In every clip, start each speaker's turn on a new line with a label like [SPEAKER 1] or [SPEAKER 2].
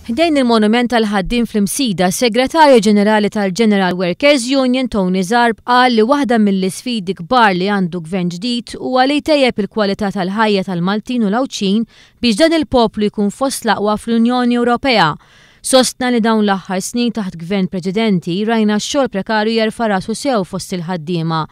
[SPEAKER 1] Ħdejn il-monument tal-ħaddiem fl-Imsida, s-Segretarju Ġenerali tal-General Workers Union Tony Zarb qal li waħda mill-isfidi kbar li għandu Gvern ġdid huwa li jtejjeb il-kwalità tal-ħajja tal-Maltin u l-Għawdxin biex dan il-poplu jkun fost l-aqwa fl-Unjoni Ewropea. Sostna li dawn l-aħħar snin taħt Gvern preċedenti rajna x-xogħol prekarju jerfa' rasu sew fost il-ħaddiema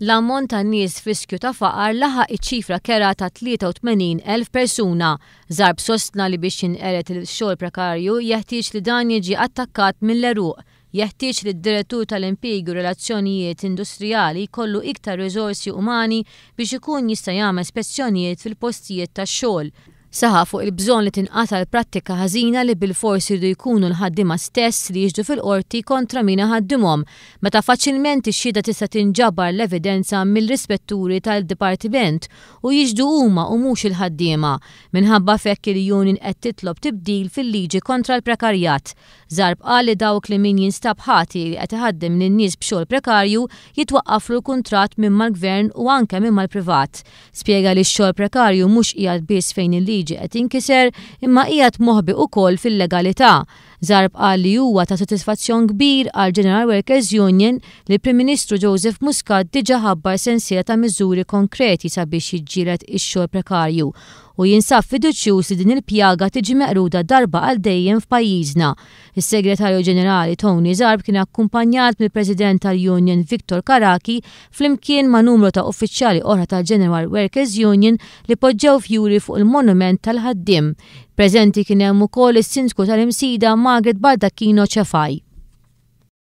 [SPEAKER 1] L-ammont ta' nies f'riskju ta' faqar laħaq iċ-ċifra kerha ta' 83,000 persuna. Zarb sostna li biex jinqered il-xogħol prekarju jeħtieġ li dan jiġi attakkat mill-għeruq. Jeħtieġ li d-Direttur tal-Impjiegi u r-Relazzjonijiet Industrijali jkollu iktar riżorsi umani biex ikun jista' jagħmel spezzjonijiet fil-postijiet tax-xogħol, Saħaq fuq il-bżonn li tinqata' l-prattika ħażina li bilfors iridu jkunu l-ħaddiema stess li jixhdu fil-Qorti kontra min iħaddimhom, meta faċilment ix-xhieda tista' tinġabar l-evidenza mill-ispetturi tal-Dipartiment u jixhdu huma u mhux il-ħaddiema. Minħabba f'hekk il-union qed titlob tibdil fil-liġi kontra l-prekarjat. Zarb qal li dawk li min jinstab ħati li qed iħaddem lin-nies b'xogħol prekarju jitwaqqaflu l-kuntratt minn mal-Gvern u anke minn mal-privat. Spjega li x-xogħol prekarju mhux qiegħed biss fejn il-liġi qed jinkiser imma qiegħed moħbi ukoll fil-legalità. Zarb qal li huwa ta' sodisfazzjon kbir għall-General Workers Union li l-Prim Ministru Joseph Muscat diġà ħabbar sensiela ta' miżuri konkreti sabiex jiġġieled ix-xogħol prekarju u jinsab fiduċjuż li din il-pjaga tiġi meqruda darba għal dejjem f'pajjiżna Is-Segretarju Ġenerali Tony Zarb kien akkumpanjat mill-President tal-Union Victor Karaki flimkien ma' numru ta' uffiċjali oħra tal-General Workers Union li poġġew fjuri fuq il-monument tal-ħaddiem. Preżenti kien hemm ukoll is-Sindku tal-Imsida Margaret Baldacchino Cefai.